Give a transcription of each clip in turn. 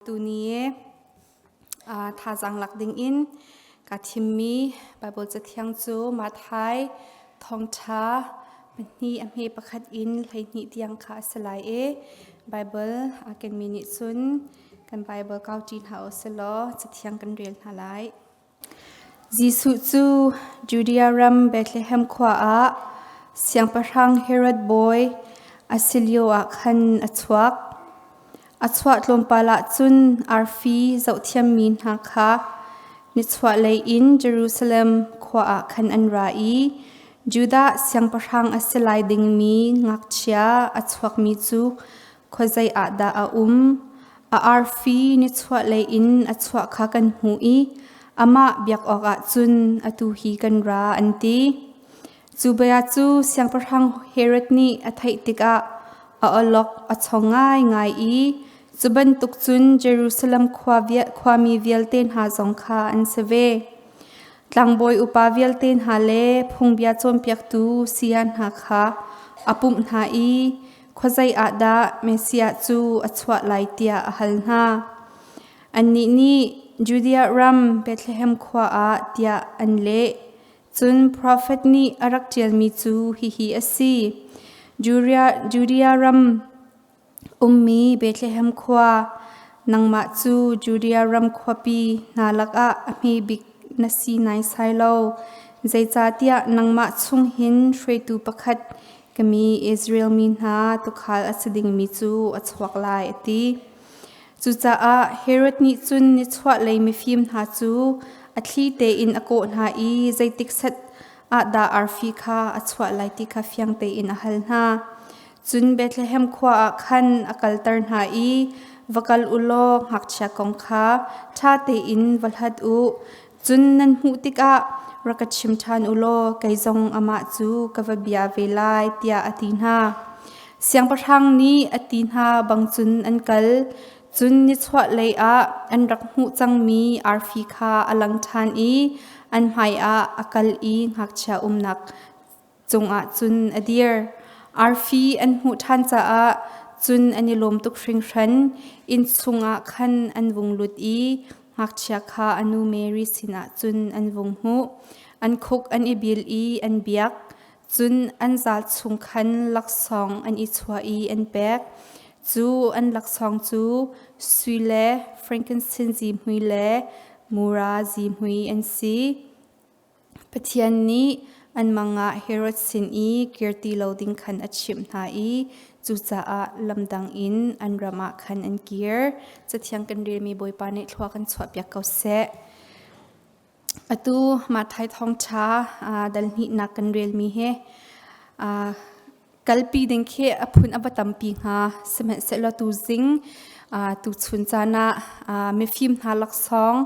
Tuni uh, thazang lak ding in ka thimmi Bible cathiang cu Mathai thongtha hni a hme pakhat in hleihni tiang kha a si lai e Bible a ken mi nih cun kan Bible kau ṭi hna u sih law cathiang kan rel hna lai Jesuh cu Judea ram Bethlehem khua ah Siangpahrang Herod bawi a si lioah khan a chuak. A chuah tlawmpal ah cun arfi zohthiammi hna kha nichuahlei in Jerusalem khua ah khan an ra i Judah siangpahrang a si lai dingmi ngakchia a chuakmi cu Khuazei ah dah a um? A arfi nichuahlei in a chuah kha kan hmuh i amah biak awkah cun atu hi kan ra, an ti. Cu bia cu Siangpahrang Herod nih a theih tikah a awlok a cho ngaingai i cu bantuk cun Jerusalem khua vial, khuami vialte hna zong kha an si ve. Tlangbawi upa vialte hna le phungbia cawnpiaktu siya hna kha a pumh hna i Khuazei ah dah Messiah cu a chuah lai tiah a hal hna. Annih nih Judea ram Bethlehem khua ah tiah an leh. Cun profet nih a rak ṭialmi cu hihi a si: Judea ram ummi Bethlehem khua, nangmah cu Judea ram khuapi hna lakah a hme bik na si naisai lo. Zeicahtiah nangmah chung hin hruaitu pakhat Ka mi Israel mi hna tukhal a si dingmi cu a chuak lai a ti. Cucaah Herod nih cun nichuahlei mifim hna cu a thli tein a kawh hna i zeitik set ahdah arfi kha a chuah lai ti kha fiang tein a hal hna. Cun Bethlehem khua ah khan a kalter hna i, Va kal u law ngakchia kong kha ṭha tein va hlat u. Cun nan hmuh tikah rak ka chim ṭhan u law kei zong amah cu ka va bia ve lai, tiah a ti hna. Siangpahrang nih a ti hna bang cun an kal. Cun nichuahlei ah an rak hmuh cangmi arfi kha a lang ṭhan i an hmaiah a kal i ngakchia umnak cungah cun a dir. Arfi an hmuh ṭhan caah cun an i lawm tuk hringhran. Inn chungah khan an vung lut i ngakchia kha a nu Mary sinah cun an vung hmuh. An khuk an i bil i an biak, cun an zal chung khan laksawng an i chuah i an pek. Cu an laksawng cu sui le frankincense hmui le mura zihmui an si. Pathian nih an mangah Herod sin i kir ti lo ding khan a chimh hna i cucaah lamdang in an ram ah khan an kir. Cathiang kan relmi Bawipa nih thlua kan chuahpiak ko seh. Atu Mathai thawngṭha dal hnihnak kan relmi he Kalpi ding khi a phun a va tampi hnga. Sihmanhsehlaw tu zing tu chun caan ah mifim hna laksawng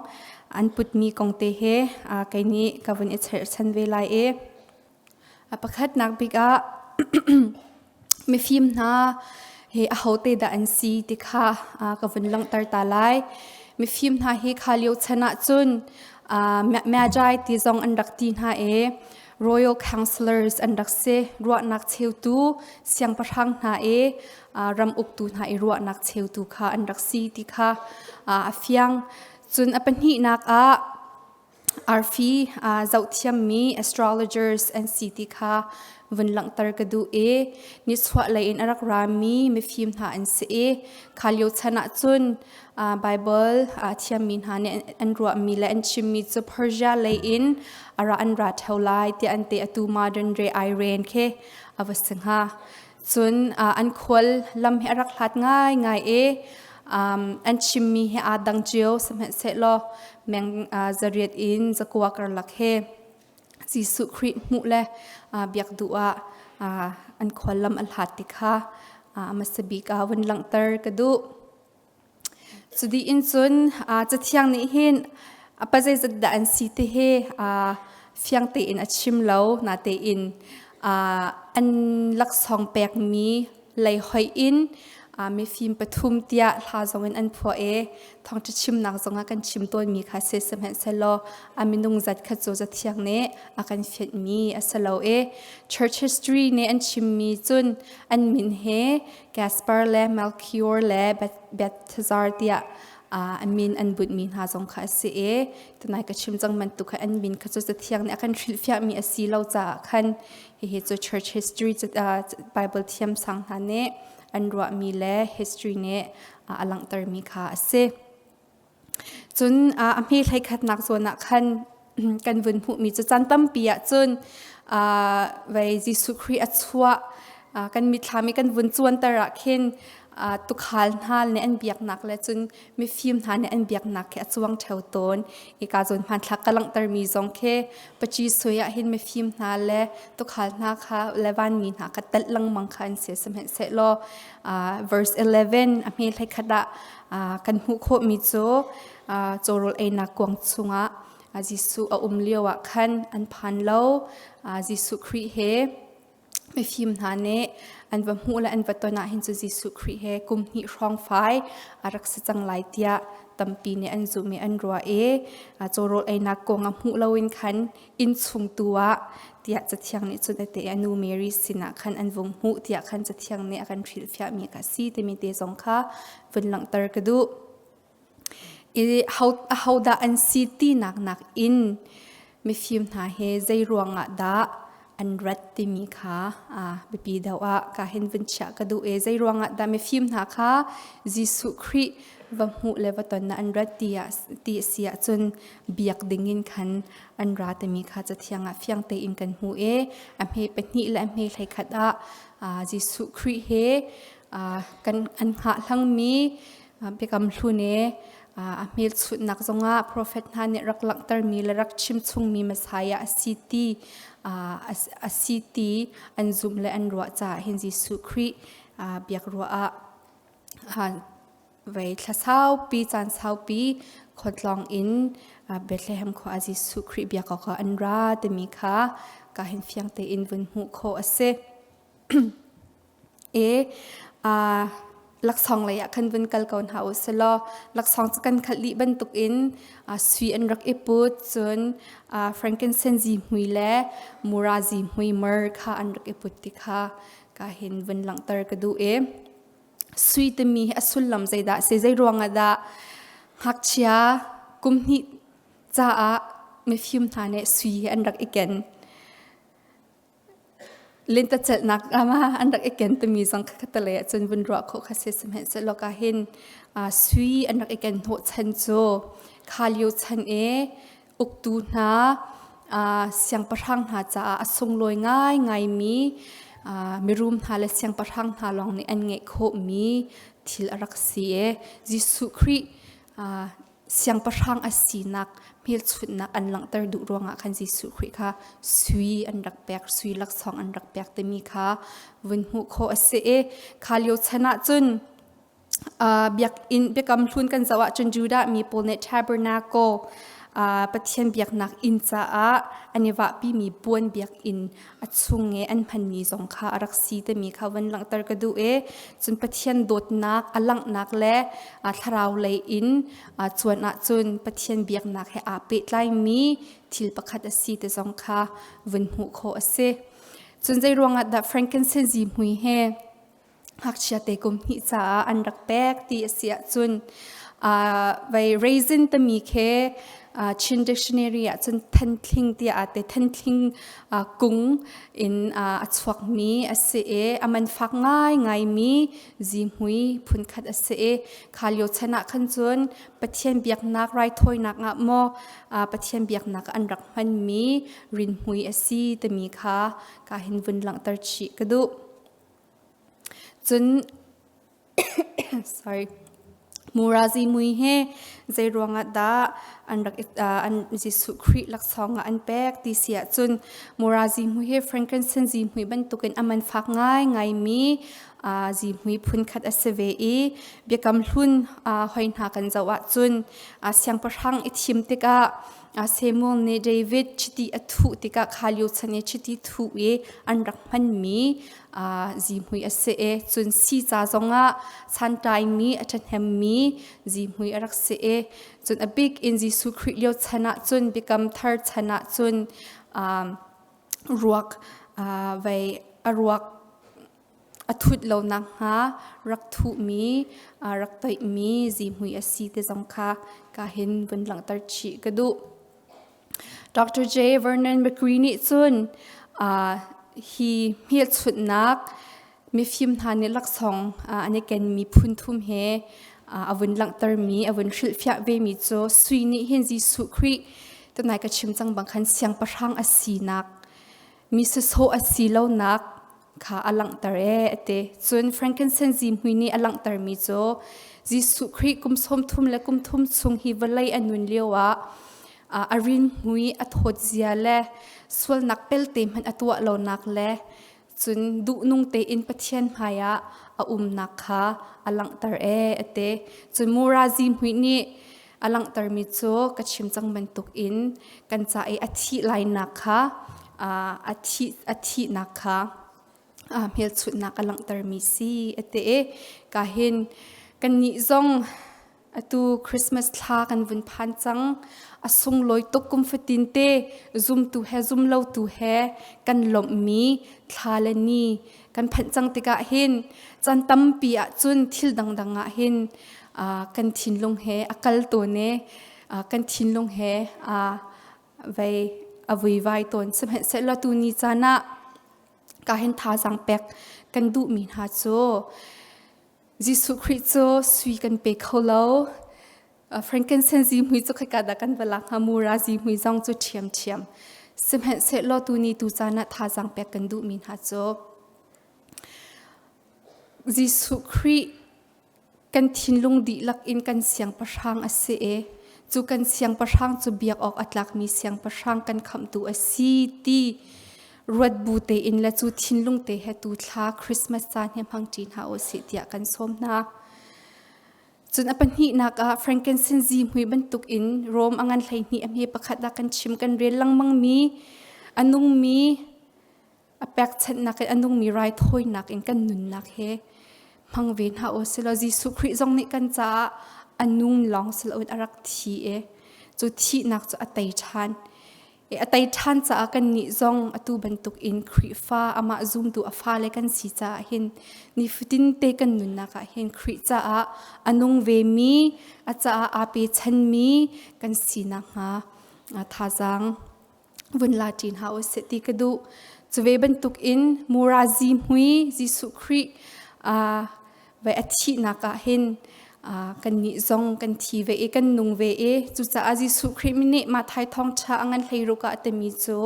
an putmi kong te he kei nih ka vun i cherhchan ve lai i a pakhatnak bik ah mifim hna hi ahote dah an si ti kha ka vun langhter ta lai. Mifim hna hi kha lio chan ahcun mya jai ti zong an rak ti hna i royal councillors an rak si ruahnak cheutu siangpahrang hna i ram uktu hna i ruahnak cheutu kha an rak si ti kha a fiang cun a pahnihnak ah arfi zohthiammi astrologers an si ti kha vun langhter ka duh i nishuah lei in a rak rami mifim hna an si i kha lio chan ah cun Baibal a thiammi hna nih an ruahmi le an chimmi cu Persia lei in a ra an ra theo lai tiah an te atu modern day Iran khi a va si hnga. Cun an khual lam hi a rak hlat ngaingai i an chimmi hi aa dang cio sihmanhsehlaw meng zariat in zakua karlak he Jesuh Khrih hmuh le biak duh ah an khuallam a hlat ti kha hmasa bik ah vun langhter ka duh. Cu in cun Cathiang nih hin a pa zeizat dah an si ti hi fiang tein a chim lo, natein an laksawng pekmi lei hoih in uh, mifim pathum tiah hla zong in an phuah e thongtha chimnak zong ah kan chim tawnmi kha se sehmanhselaw a minung zat kha cu zathiang ne a kan fiat mi a si lo e church history ne an chimmi cun an min he Gaspar le Melchior le Bethazar tiah uh, amin an but mi hna zong kha si e tanai ka chim cang man tu kha an min kha cu zathiang ne a kan hrilhfiah mi a si lo caah khan Hihi cu church history Bible thiamsang hna nih an ruahmi le history nih a langhtermi kha a si. Cun a hmi hleikhatnak zawn ah khan kan vun hmuhmi cu caan tampi ah cun vei Jesuh Khrih a chuah kan mitthlam i kan vun cuanter ah khin tukhal hna nih an biaknak le cun mifim hna nih an biaknak khi a cuang theo tawn i ka zon hmanthlak ka langhtermi zong khi paci sui ah hin mifim hna le tukhal hna kha levan mi hna ka tat langmang kha an se samhen se lo verse 11 a hme hlekhat ah kan hmuh khawh mi cu chorol einak kuang chungah Jesuh a um lio ah khan an phan lo Jesuh Khrih he Mifim hna nih an va hmuh le an va ton ahhin cu Jesuh Khrih he kum hnih hrawng fai a rak si cang lai tiah tampi nih an zumh i an ruah i a cawrawl einak kong a hmuh loin khan innchung tu ah tiah Cathiang nih cunate a nu Mary sinah khan an vung hmuh tiah khan Cathiang nih a kan hrilhfiahmi ka si timi te zong kha vun langhter ka duh. I ahodah an si tinak nakin mifim hna he zei ruangah dah an rat timi kha biapi deuh ah ka hin vun chiah ka duh i zei ruangah dah mifim hna kha Jesuh Khrih va hmuh le va tonnak an rat ti a si ahcun biak dingin khan an ra timi kha Cathiang ah fiang tein kan hmuh i a hme pahnih le a hme hleikhat ah Jesuh Khrih he kan an hngahhlangmi Biakam hlune a hmelchunhnak zongah profet hna nih rak langhtermi le rak chimchungmi Messiah a si ti a si ti an zumh le an ruah caah hin Jesuh Khrih biak ruah ah vei thla saupi caan saupi khawtlawng in Bethlehem khua ah Jesuh Khrih biak awk an ra timi kha ka hin fiang tein vun hmuh khawh a si. i aa laksawng lei ah khan vun kal ko hna u silaw laksawng cu kan khalh dih bantuk in aa sui an rak i put cun aa frankincense zihmui le mura zihmui mer kha an rak i put ti kha ka hin vun langhter ka duh i sui timi hi a sullam zeidah a si zei ruangah dah ngakchia kum hnih caah mifim hna nih sui hi an rak i ken Lintacelhnak ram ah an rak i ken timi zong kha ka lei ahcun vun ruah khawh kha si sihmanhsehlaw ka hin sui an rak i ken hnawh chan cu kha lio chan i uktu hna siangpahrang hna caah a sunglawi ngaingaimi mirum hna le siangpahrang hna lawng nih an ngeih khawhmi thil a rak si i Jesuh Khrih siangpahrang a sinak hmelchunhnak an langhter duh ruangah khan Jesuh Khrih kha sui an rak pek sui laksawng an rak pek timi kha vun hmuh khawh a si i kha lio chan ah cun uh, biakinn biakam hlun kan zoh ahcun Judah mi pawl nih tabernacle uh, Pathian biaknak inn caah an i vahpimi puan biakinn a chung i an phanmi zong kha a rak si timi kha van langhter ka duh i cun Pathian dawtnak a langhnak le thlarau lei in cuan ahcun Pathian biaknak he aa pehtlaimi thil pakhat a si ti zong kha vun hmuh khawh a si. Cun zei ruangah dah Frankenstein zihmui he ngakchiate kum hnih caah an rak pek ti a si ahcun uh, vai raisin tami khe uh, Chin dictionary ahcun thantling tia ate thantling uh, kung in uh, a chuak mi a si e aman fak ngai ngai mi zi mui phun khat a si e khalio chan ah khan cun pathian biaknak rai thoinak nga mo uh, pathian biaknak an rak hman mi rin mui a si tami kha ka hin vun langter chi ka du Cun Murazi mui he zeiruangah dah an rak i an Jesuh Khrih laksawng ah an pek ti si ahcun Murazi mui hi frankincense zihmui bantukin a man fak ngaingaimi zihmui phunkhat a si ve i Biakam Hlun hoi hna kan zoh ahcun siangpahrang i thim tikah A Samuel nih David chiti a thuh tikah kha lio chan i chiti thuh i an rak hmanmi zihmui a si e cun si ca zongah santaimi a ṭhahnemmi zihmui a rak si e cun a bik in Jesuh Khrih lio chan ah cun biakam thar chan ah cun ruak vei a ruak a thut lo nakhnga rak thuhmi rak toihmi zihmui a si te zong kha ka hin vun langhter chih ka duh. Dr. J. Vernon McGree nih cun uh, hi hmelchunhnak mifim hna nih laksawng uh, an i kenmi phunthum he uh, a vun langhtermi a vun hrilhfiah vemi cu sui nih hin Jesuh Khrih tunai ka chim cang bang khan siangpahrang a sinak mi sasawh a si lonak kha a langhter ee a ti. Cun Frankincense zihmui nih a langhtermi cu Jesuh Khrih kum sawmthum le kum thum chung hi vawlei a nun lio ah a rinmui a thawt zia le sualnak pelte hmanh a tuah lonak le cun duhnung tein Pathian hmaiah a umnak kha a langhter ee a ti. Cun mura zihmui nih A langhtermi cu ka chim cang bantuk in kan ca i a thih lainak kha a thih a thihnak kha hmelchunhnak a langhtermi si a ti i ka hin kannih zong atu Christmas thla kan vun phan cang a sunglawi tuk kum fatin te zumtu he zumlotu he kan lawmhmi thla le ni kan phanh cang tikah hin can tampi ah cun thil dangdang ah hin kan thinlung he a kal tawn e kan thinlung he a vei a vuivai tawn sihmanhsehlaw tu ni caan ah ka hin thazaang pek kan duhmi hna cu Jesuh Khrih cu sui kan pe kho lo. Frankensen zi hmui cu khika dah kan va lak hnga mu ra zi hmui zong cu ṭhiam ṭhiam. Sihmanhsehlaw tuuni tu caan ah thazaang pek kan duhmi hna cu Jesuh Khrih kan thinlung dihlak in kan siangpahrang a si i cu kan siangpahrang cu biak awk a tlakmi siangpahrang kan khamhtu a si ti ruat bu te in le cu thinlung te he tu thla Christmas ca ne hmang ṭi hna u si tiah kan sawm hna. Cun a pahnih nak ah Frankensenzi mui bantuk in Rome angan hleihnih a hme pakhat da kan chim kan rel langmang mi anung mi a pekchannak in anung mi rai thawinak in kan nunnak he hmang ve hna o silo Jesuh Khrih zong nih kan caah anung long silo in arak thi e cu thihnak cu a tei ṭhan a tei ṭhan caah kannih zong atu bantukin Khrihfa amah zumtu a fale kan si caah hin nifatin te kan nunnak ah hin Khrih caah a nung vemi a caah aa pechanmi kan si nakhnga thazaang vun la ṭin hna u sih ti ka duh. Cuve bantukin mura zihmui Jesuh Khrih Ve a thihnak ah hin kannih zong kan thi ve i kan nung ve i cucaah Jesuh Khrih mi nih mah thai thawngṭha a ngan hleiruk ah a timi cu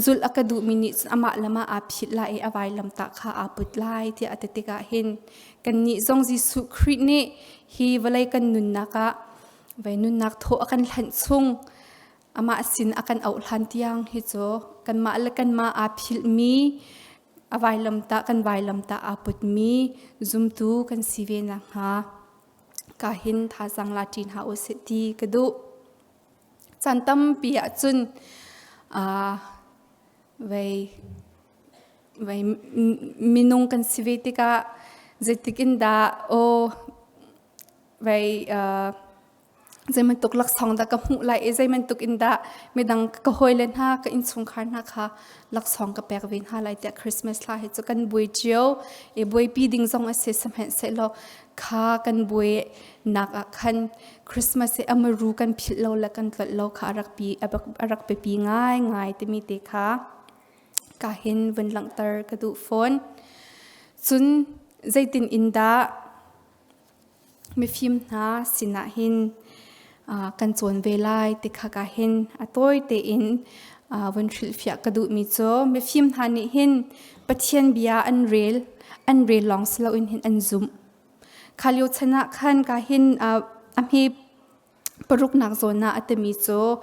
zulh a ka duhmi nih cun amah lam ah aa phit lai i a vailam tah kha aa put lai tiah a ti tikah hin kannih zong Jesuh Khrih nih hi vawlei kan nunnak ah ve nunnak thaw a kan hlanh chung amah sin a kan oh hlan tiang hi cu kanmah le kanmah aa philhmi A vailamtah kan vailamtah aa putmi zumtu kan si ve nakhnga ka hin thazang la ṭin hlah u sih ti ka duh. Caan tampi ahcun uh, vei, vei minung kan si ve tikah zeitik in dah aw vei uh, zeimantuk laksong dah ka hmuh lai i zeimantuk in dah midang ka hoi le hna ka insungkhar hna kha laksong ka pek ve hna lai tiah christmas hla hi chu kan bui cio i buai pi ding zong a si samhen se lo kha kan bui nak ah khan christmas i amaru kan philh lo le kan tlot lo kha arak pi arak pe pi ngai ngai timi te kha ka hin vun langhter ka du phone cun zeitin in dah Mifim hna sinah hin kan cawn ve lai ti khaka hin a tawi tein vun hrilhfiah ka duhmi cu mifim hna nih hin Pathian bia an rel, an rel lawng si loin hin an zumh. Kha lio chan ah khan ka hin a hme Paruknak zawn ah a timi cu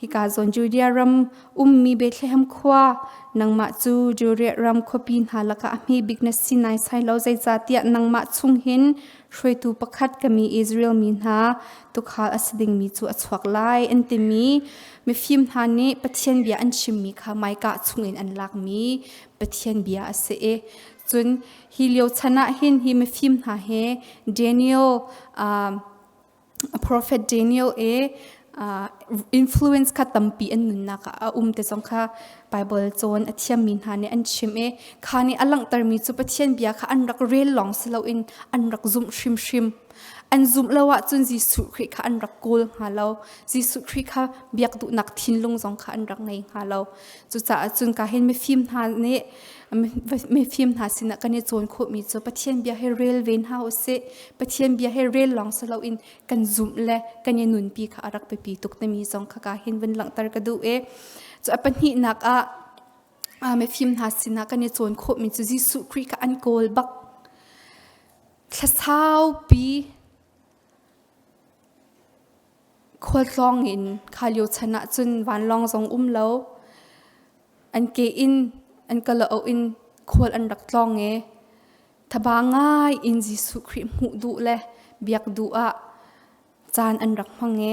hika zawn Judea ram ummi Bethlehem khua nangmah cu Judea ram khuapi hna lakah a hmebik na si naisai lo zeicahtiah nangmah chung hin hruaitu pakhat ka mi Israel mi hna tukhal a si dingmi cu a chuak lai an timi mifim hna nih Pathian bia an chimmi kha maika chungin an lakmi Pathian bia a si i cun hi lio chan ah hin hi mifim hna he Daniel a profet Daniel e influence kha tampi an nunnak ah a um te zong kha Bible cawn a thiammi hna nih an chim i kha nih a langhtermi cu Pathian bia kha an rak rel lawng si loin an rak zumh hrimhrim an zumh lo ahcun Jesuh Khrih kha an rak kawl hnga lo Jesuh Khrih kha biak duhnak thinlung zong kha an rak ngei hnga lo Cucaah cun ka hin mifim hna nih mifim hna sinah kan i cawn khawhmi cu Pathian bia he rel ve hna u sih. Pathian bia he rel lawng si loin kan zumh le kan i nunpi kha a rak biapi tuk timi zong kha ka hin vun langhter ka duh i cu a pahnihnak ah mifim hna sinah kan i cawn khawhmi cu Jesuh Khrih kha an kawl bak. Thlasaupi Khualtlawng in kha lio chan ah cun vanlawng zong um lo. An ke in an kalaoh in khual an rak tlawng i thaba ngai in Jesuh Khrih hmuh duh le biak duh ah caan an rak hmang i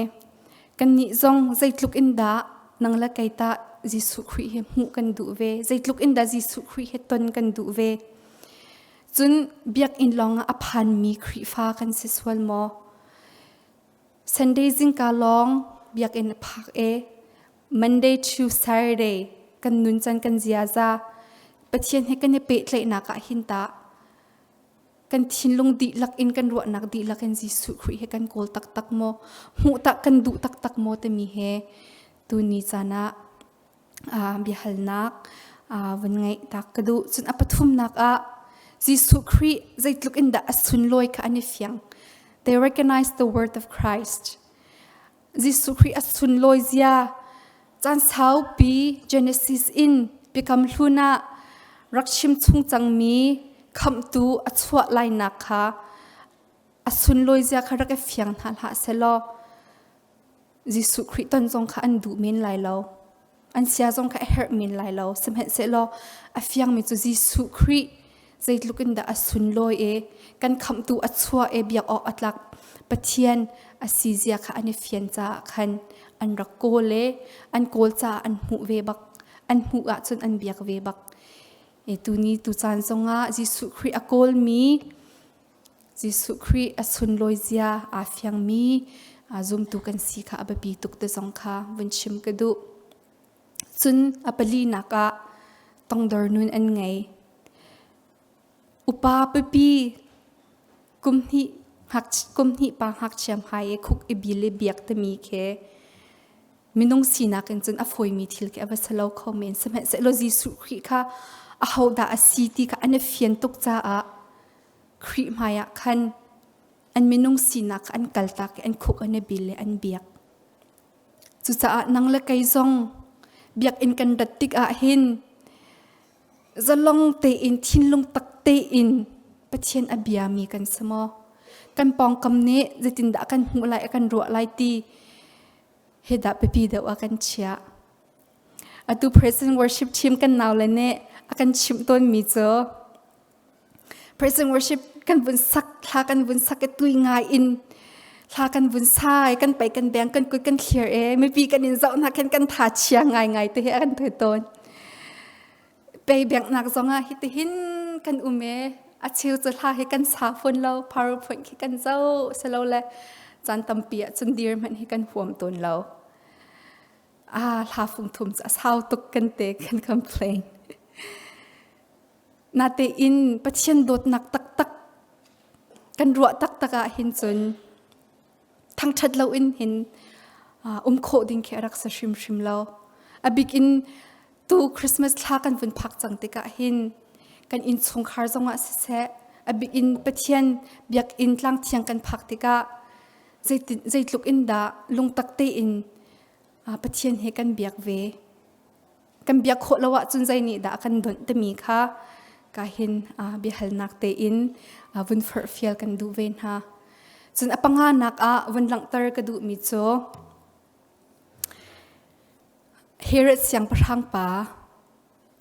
kannih zong zeitluk in dah nang le kei tah Jesuh Khrih hi hmuh kan duh ve? Zeitluk in dah Jesuh Khrih he ton kan duh ve? Cun biakinn lawngah a phanmi Khrihfa kan si sual maw? Sunday zingka lawng biakinn a phak e. Monday to Saturday kan nun can kan ziaza Pathian he kan i pehtlaihnak ah hin ta kan thinlung dihlak in kan ruahnak dihlak in Jesuh Khrih he kan kawl taktak maw hmuh tak kan duh taktak maw timi he tuni caan ah biahalnak van ngeih tak ka duh. Cun a pathumnak ah Jesuh Khrih zeitluk in dah a sunlawi kha an i fiang. They recognize the word of Christ. Jesuh Khrih a sunlawi zia caan saupi Genesis in biakam hlun ah rak chim chung cangmi khamtu a chuah lainak kha a sunlawi zia kha rak i fiang hna hlah selaw Jesuh Khrih ton zong kha an duh men lai lo. An sia zong kha a herh men lai lo. Sihmanhsehlaw a fiangmi cu Jesuh Khrih zeitluk in dah a sunlawi e kan khamhtu a chua e biak awk a tlak Pathian a sizia kha an i fian caah khan an rak kawl e an kawl caah an hmuh ve bak an hmuh ahcun an biak ve bak e tuni tu caan zongah Jesuh Khrih a kawlmi Jesuh Khrih a sunlawi zia aa fiangmi zumtu kan si kha a biapi tuk ti zong kha vun chim ka duh. Cun a palinak ah tongdor nun an ngei. Upa pipi kum hnih kum hnih pa ngakchiam hai i khuk i bil i biak timi khi minung sinak in cun a fawimi thil khi a va si lo kho men. Sihmanhsehlaw Jesuh Khrih kha ahodah a si ti kha an i fian tuk caah Khrih hmaiah khan an minung sinak an kaltak i an khuk an i bil i an biak. Cucaah nang le kei zong biakinn kan rat tikah hin zalong tein thinlung tak tein Pathian a biami kan si maw? Kan pawngkam nih zeitindah kan hmuh lai kan ruah lai ti hi dah biapi deuh a kan chiah. Atu Present Worship Team kan naule nih a kan chimh tawnmi cu Praise and worship kan vun sak thla kan vun sak ke tui ngai in thla kan vun sai kan pai kan beng kan kuit kan thlir e mipi kan in zau na khen kan tha chia ngai ngai te he kan thoi ton pe beng nak zonga hi te hin kan ume a chiu chu thla he kan sa phun lo powerpoint khi kan zo selo le chan tampi a chun dir man hi kan huam ton lo a thla phung thum cha sau tuk kan te can complain Natein Pathian dawtnak taktak kan ruah taktak ah hin cun thangṭhat lo in hin um khawh ding khi a rak si hrimhrim lo. A bik in tu Christmas thla kan vun phak cang tikah hin kan innchungkhar zongah siseh, a bik in Pathian biakinn tlang thiang kan phak tikah zeitluk in dah lungtak tein Pathian he kan biak ve. kan biak khawh lo ahcun zeinihdah kan donh timi kha ka hin biahalnak tein vun furhfial kan duh ve hna. Cun a panga nak ah vun langhter ka duhmi cu Herod siangpahrang pa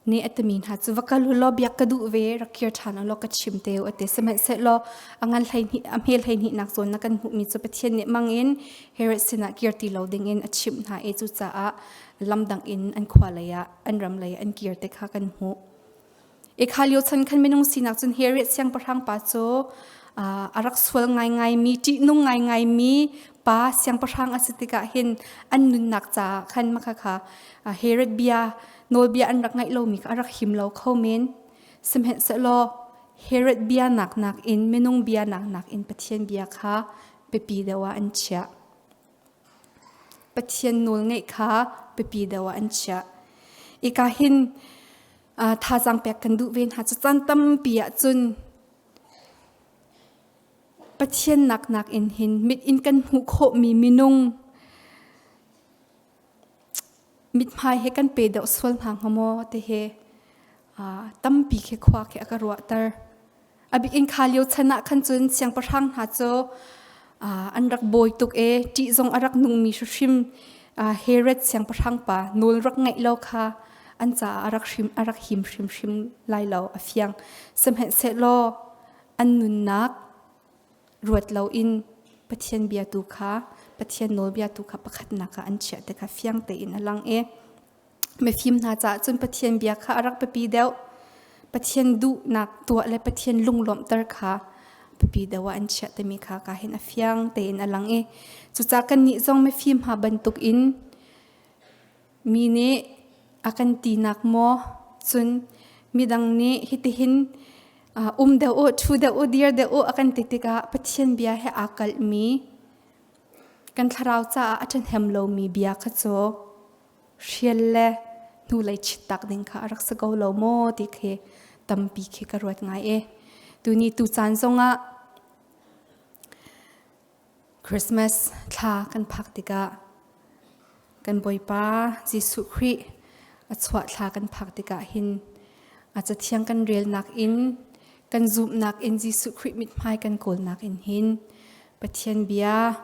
nih atami hna cu va kal u law biak ka duh ve rak kir ṭhan u law ka chim te u ate sihmanhsehlaw a ngan hleihnih a hme hleihnih nak zawn na kan hmuhmi cu Pathian nih mangin Herod sinah kir ti lo dingin a chimh hna i cucaah lamdang in an khua lei ah an ram lei an kir te kha kan hmuh i kha lio chan khan minung sinak cun he re siang pahrang pa cu a rak sual ngaingai mi ṭih nung ngaingai mi pa siangpahrang a si tikah hin an nunnak caah khan makha kha Herod bia nawlbia an rak ngaih lomi kha a rak him lo kho men sehmanhsehlaw Herod bia nak nakin minung bia nak nakin Pathian bia kha pipi deuh ah an chiah Pathian nawlngaih kha biapi deuh ah an chiah. Ika hin uh, thazang pek kan duh ve hna. Cu caan tampi ah cun Pathian nak nak in hin mit in kan hmuh khawhmi minung mithmai he kan pe deuh sual hna hnga maw te he tampi khi khua khi aka ruahter abik in kha lio chan ah khan cun siangpahrang hna cu an rak bawi tuk e ṭih zong a rak nungmi hrim Herod siangpahrang pa nawl rak ngeih lo kha an caah a rak hrim a rak him hrimhrim lai lo a fiang sehmanhsehlaw an nunnak ruat lo in Pathian bia tu kha Pathian nawlbia tu kha pakhatnak ah an chiah te kha fiang tein a lang e Mifim hna caah cun Pathian bia kha a rak biapi deuh. Pathian duhnak tuah le Pathian lunglawmhter kha biapi deuh ah an chiah timi kha ka hin a fiang tein a lang i cucah kannih zong mifim hna bantuk in mi nih a kan tinak maw cun midang nih hitihin um deuh u, ṭhu deuh u, dir deuh u a kan ti tikah Pathian bia he aa kalhmi Kan thlarau caah a ṭhahnem lomi bia kha cu hrial le hnulei chitak ding kha a rak si ko lo maw ti khi tampi khi ka ruat ngai i tuni tu caan zongah Christmas thla kan phak tikah Kan Bawipa Jesuh Khrih a chuah thla kan phak tikah hin a cathiang kan relnak in kan zumhnak in Jesuh Khrih mithmai kan kawlnak in hin Pathian bia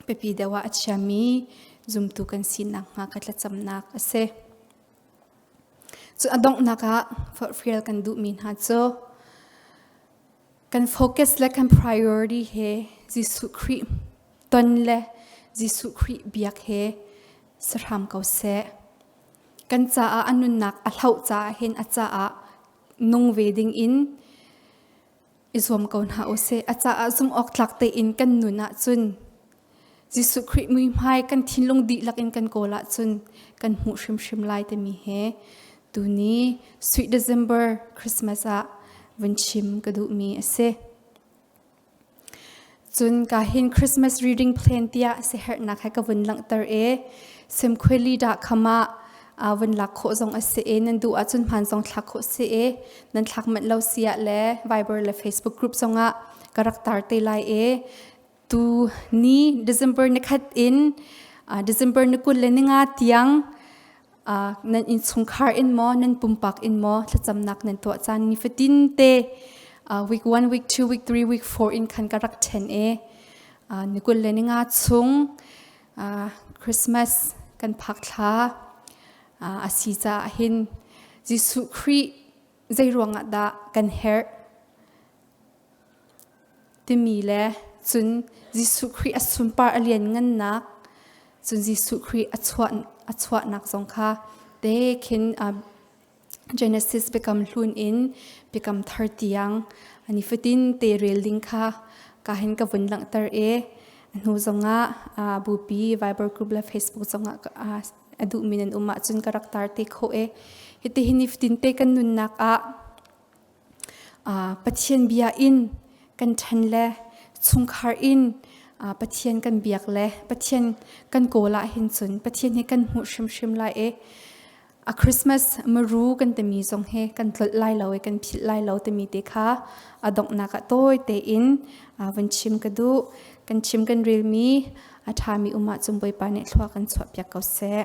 pipi deuh ah a chiami zumtu kan si nakhnga ka thlacamnak a si. Cu a donghnak ah forhfial kan duhmi hna cu Kan focus le kan priority he Jesuh Khrih ton le Jesuh Khrih biak he sahram ko seh. Kan caah a nunnak a hloh caah hin a caah nung ve ding in i zuam ko hna u sih. A caah zumh awk tlak tein kan nun ahcun Jesuh Khrih muihmai kan thinlung dihlak in kan kawl ahcun kan hmuh hrimhrim lai timi he tuni sweet December Christmas ah vun chim ka duhmi a si. Cun ka hin Christmas reading plan tiah siherhnak he ka vun langhter e semkhueli dah khama uh, van lak khawh zong a si e nan duh ahcun hman zong thlak khawh si e nan thlak manh lo sia le Viber le Facebook group zong ah ka rak tar te lai e tu ni December ni khat in uh, December ni kul le ni nga tiang uh, nan in chungkhar in mo nan pumpak in mo thlacamnak nan tuah caan ni fatin te uh, week one, week two, week three, week four in khan ka rak then e uh, ni kul le ni nga chung uh, Christmas kan phak thla uh, asi cha hin Jesuh Christ zeiruangah dah kan herh timi le cun Jesuh Khrih a sunpar a lianngannak cun Jesuh Khrih a chuah a chuahnak zong kha te khin uh, Genesis biakam hlun in biakam thar tiang ani fatin te rel ding kha ka hin ka vun langhter e hnu zongah uh, bupi Viber group le Facebook zongah uh, A duhmi nan um ahcun ka rak tar te khawh e. Hitihin nifatinte kan nunnak ah Pathian bia in kan ṭhen le chungkhar in Pathian kan biak le Pathian kan kawl ahhin cun Pathian hi kan hmuh hrimhrim lai e. A Christmas maru kan timi zong he kan tlolh lai lo e, kan philh lai lo timi te kha a donghnak ah tawi tein vun chim ka duh. Kan chim kan relmi a ṭhami um ahcun Bawipa nih thlua kan chuahpiak ko seh.